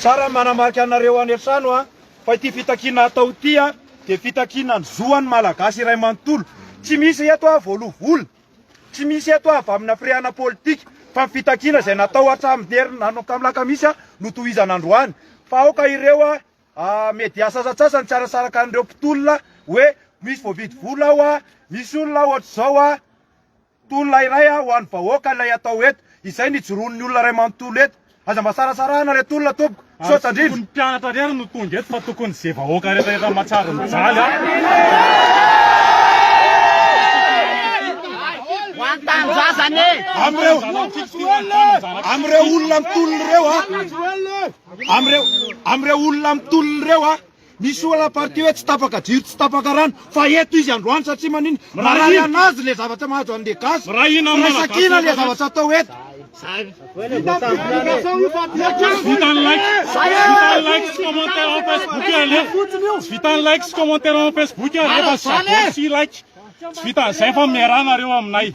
Tsara ny manamarika anareo any an-trano an, fa ity fitakiana hatao ity an, dia fitakiana ny zo an'ny Malagasy iray manontolo. Tsy misy eto an voaloa vola, tsy misy eto an avy amina firehana politika, fa ny fitakiana izay natao hatramin'ny herin'ny alakamisy an no tohizana androany. Fa aoka ireo an media sasantsasany tsy hanasaraka an'ireo mpitolona hoe misy voavidy vola ao an, misy olona ao hatrizao an, Tolona iray a ho an'ny vahoaka ilay atao eto, izay ny ijoroan'ny olona iray manontolo eto. Aza mba sarasarahana ilay tolona tompoko. Misaotra indrindra. Ary tsy tokony mpianatra irery no tonga eto fa tokony ze vahoaka rehetra efa matsaro mijaly a. Amin'ireo amin'ireo olona mitolona ireo a, amin'ireo amin'ireo olona mitolona ireo a. Misy olana ny partie hoe tsy tapaka jiro tsy tapaka rano fa eto izy androany satria manina marary anazy le zavatra mahazo anle gasy firaisankina le zavatra atao eto. Vitan'ny like, vitan'ny like sy commentaire en Facebook io aleha. Tsy vitan'ny like sy commentaire en Facebook io aleha fa s'abonne sy like. Tsy vitan'ny zay fa miarahanareo aminay.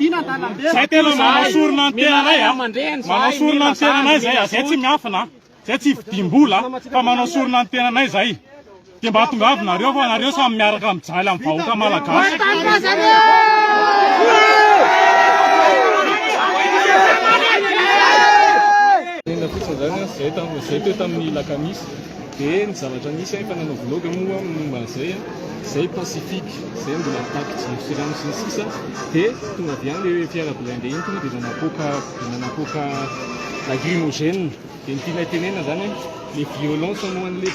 Zay tena manao sorona ny tenanay a. Manao sorona ny tenanay zay a. Zay tsy miafina a. Zay tsy vidim-bola fa manao sorona ny tenanay izay. Dia mba tongava nareo fa nareo samy miaraka mijaly amin'ny vahoaka malagasy. Dia ny zavatra nisy ahy fa nanao vlog moa aho momba an'izay, izay Pacifique, izay mbola mitaky jiro sy rano sy ny sisa, dia tonga avy any ilay fiara blindé iny tonga dia efa napoaka. Dia nanapoaka lacrymogène, dia ny tianay tenenana zany hoe le violence ho an'le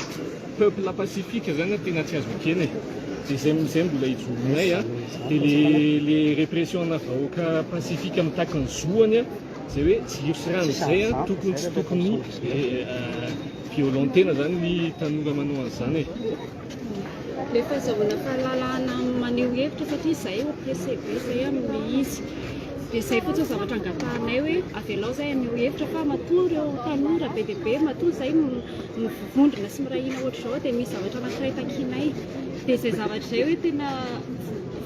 peuple pacifique zany no tena tsy azo ekena e, dia zay zay mbola ijoroanay a, dia le le répression ana vahoaka pacifique mitaky ny zoany a, zay hoe jiro sy rano zay a, tokony tsy tokony violentena zany ny tanora manao an'izany e. Rehefa azahoana fahalalahana maneho hevitra satria izahay ho pressé be izay amin'ny izy. Dia izay fotsiny ny zavatra angatahanay hoe avelao izahay haneho hevitra fa matoa ireo tanora be dia be matoa izay mivondrona sy miray hina ohatr'izao dia misy zavatra anankiray takianay. Dia izay zavatra izay hoe tena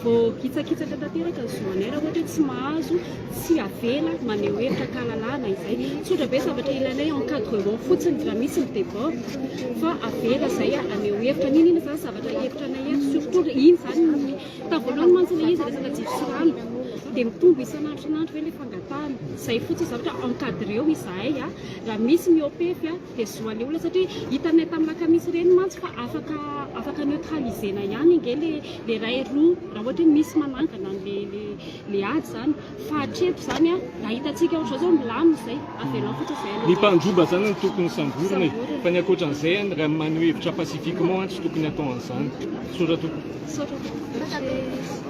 Voakitsakitsaka tanteraka ny zo anay raha ohatra hoe tsy mahazo, tsy avela maneho hevitra an-kalalahana izay. Tsotra be zavatra ilainay, encadrement fotsiny raha misy ny debord fa avela izay haneho hevitra. N'inona izany zavatra hevitranay eto, surtout iny izany ny tamin'ny voalohany mantsy ilay izy resaka jiro sy rano dia mitombo isan'andro isan'andro ve ilay fangatahana. Izay fotsiny zavatra, encadreo izahay raha misy miopefy. dia zo aleo ilay satria hitanay tamin'ny lakamisy ireny mantsy fa afaka afaka neutraliser-na ihany ange le le iray roa raha ohatra hoe misy manangana le le le ady izany fa hatreto izany a raha hitantsika ohatra izao milamina izay avelao fotsiny izay aloha ny mpandroba izany no tokony samborina e fa ny ankoatran'izay any raha maneho hevitra pacifiquement any tsy tokony atao an'izany misaotra tompoko misaotra tompoko